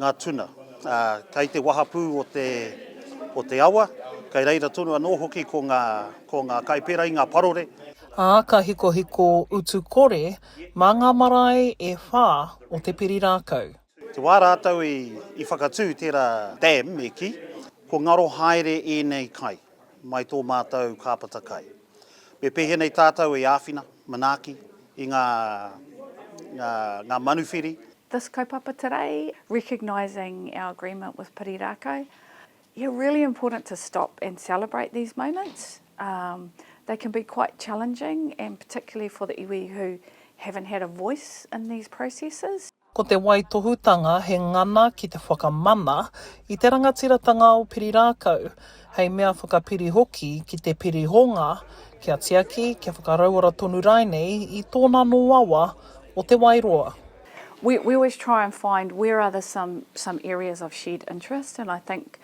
ngā tuna. Ā, kei te wahapū o te, o te awa, kei reira tonu anō hoki ko ngā, ko ngā Kaipera i ngā parore. Ā, ka hikohiko utu kore mā ngā marae e whā o te piri rākau. Te wā rātou i, i whakatū tērā dam me kī, Kua ngaro haere ēnei kai, mai tō mātou kāpata kai. Me pēhenei tātou e āwhina, manaaki, i ngā, ngā, ngā manuwhiri. This kaupapa today, recognising our agreement with Piri Rākau, yeah, really important to stop and celebrate these moments. Um, they can be quite challenging and particularly for the iwi who haven't had a voice in these processes. Ko te waitohutanga he ngana ki te whakamana i te rangatiratanga o Piri Rākau, hei mea whakapiri hoki ki te pirihonga kia tiaki, kia whakarauora tonu rainei i tōna noawa o Te Wairoa. We we always try and find where are the some some areas of shared interest and I think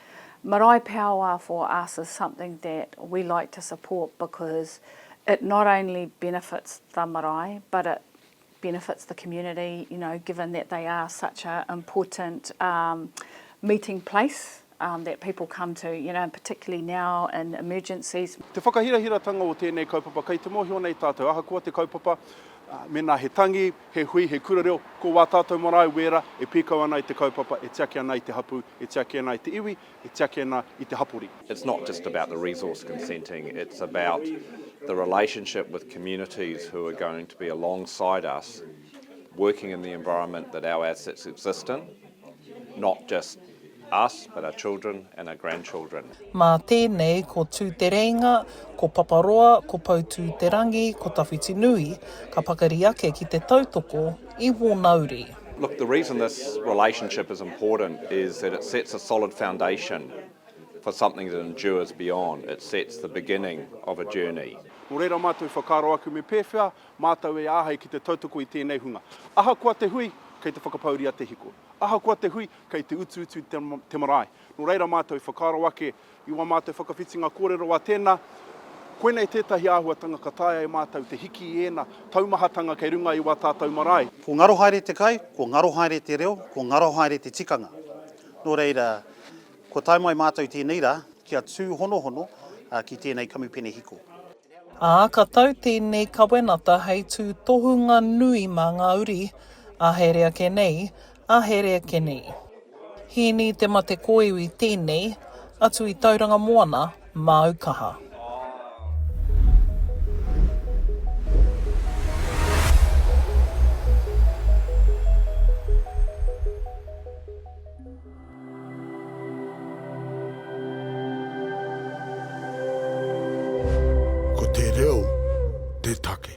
marae power for us is something that we like to support because it not only benefits the marae but it benefits the community, you know, given that they are such an important um, meeting place um, that people come to, you know, particularly now in emergencies. Te whakahirahiratanga o tēnei kaupapa, kei te mōhio nei tātou, ahakoa te kaupapa, uh, mena he tangi, he hui, he kura reo, ko wā tātou marae wēra e pīkau ana i te kaupapa, e tiaki ana i te hapu, e tiaki ana i te iwi, e tiaki ana i te hapori. It's not just about the resource consenting, it's about the relationship with communities who are going to be alongside us working in the environment that our assets exist in, not just us but our children and our grandchildren. Mā tēnei, ko Tūtereinga, ko Paparoa, ko Poutūterangi, ko Tawhitinui, ka pakari ake ki te tautoko i wōna uri. Look, the reason this relationship is important is that it sets a solid foundation for something that endures beyond, it sets the beginning of a journey. Nō reira mātou i whakaaro ake me pēwhea mātou e āhei ki te tautoko i tēnei hunga. Ahakoa te hui, kei te whakapauria te hiko. Ahakoa te hui, kei te utuutu te marae. Nō reira mātou i whakaaro ake i wā mātou whakawhitinga kōrero a tēnā, koinei tētahi āhuatanga ka taea e mātou te hiki i ēna taumahatanga kei runga i wā tātou marae. Ko ngaro haere te kai, ko ngaro haere te reo, ko ngaro haere te tikanga. Nō reira, kua tae mai mātou i tēnei rā kia tūhonohono ki tēnei kamupene hiko. Ā, ka tau tēnei kawenata hei tūtohunga nui mā ngā uri, ā here ake nei, ā here ake nei. Hīni te mate kōiwi tēnei, atu i Tauranga Moana, māu kaha. Ko te reo te take.